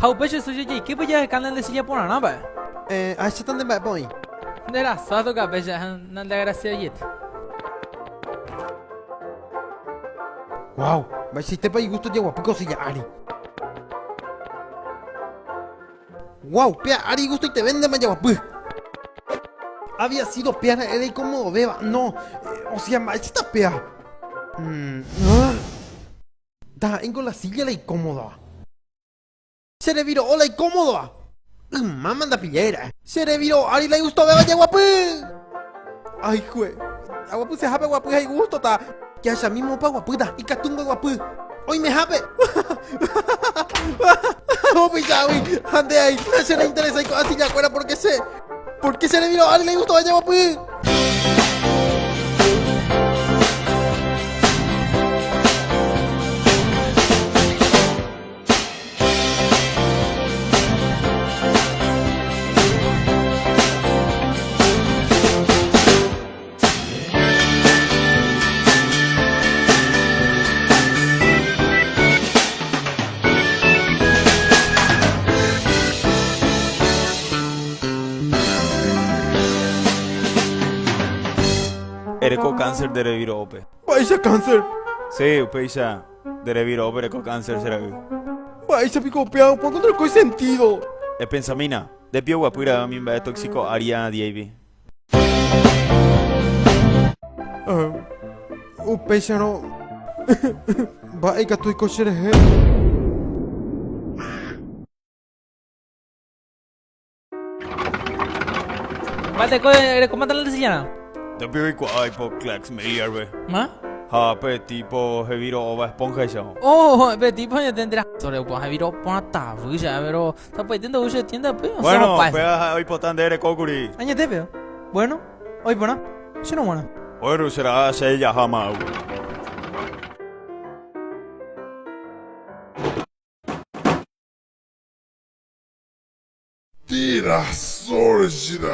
Ha upe che soja jaikýpe jaheka nde silla porãrã va'e. Eh, ahecháta nde mba'épa oĩ. Nde rasa toca péicha ha nande agraciajeýta. Guau, mba'eichaitépa igusto jaguapy ko silla ári. Guau, péa ári igustoiteve nde majaguapy. Había sido péa ra'e reikomodovéva, no, ósea mba'éichata péa. Mmmm. Ndaha'éingo la silla la ikómodova. Che reviro'o la ikómodova. Ymáma ndapillái ra'e. Che reviro'o ári la igustovéva jaguapy. Ayhue, aguapysehápe guapy ha igustota. Jahechamíme opa guapýta, ikatu mboguapy. Oimehápe. Opichágui, ha nde aĩ, che reinteresái ko'ã sillakuéra pórke che. Pórke che reviro ári leigustova jeguapy. Erekó cáncer de reviro'ópe. Mba'éicha cáncer? Sí, upéicha de reviro'ópe erekó cáncer che ra'y. Mba'éicha piko upéva opa encontrarkói sentido? Epensamína, de pio guapy ra'y umi mba'e tóxico área diéivi. Upéicharõ mba'e ikatu oiko cherehe. Mate, eh, ¿cómo está la lesillana? Te pido y cuay po clax me hierve. ¿Ma? Ha, pe tipo, he viro ova esponja y Oh, pe tipo, yo tendrá. Sobre, pues he viro pata, villa, pero. Tapaite ndo'u che tiéndape, osẽ Bueno, opa hese. péva oipota nde rekókuri. Añete péva. Bueno, oĩ porã. Chéngo g̃uarã. Bueno, che ra'a che jaha ma'agua. Tira sorjra.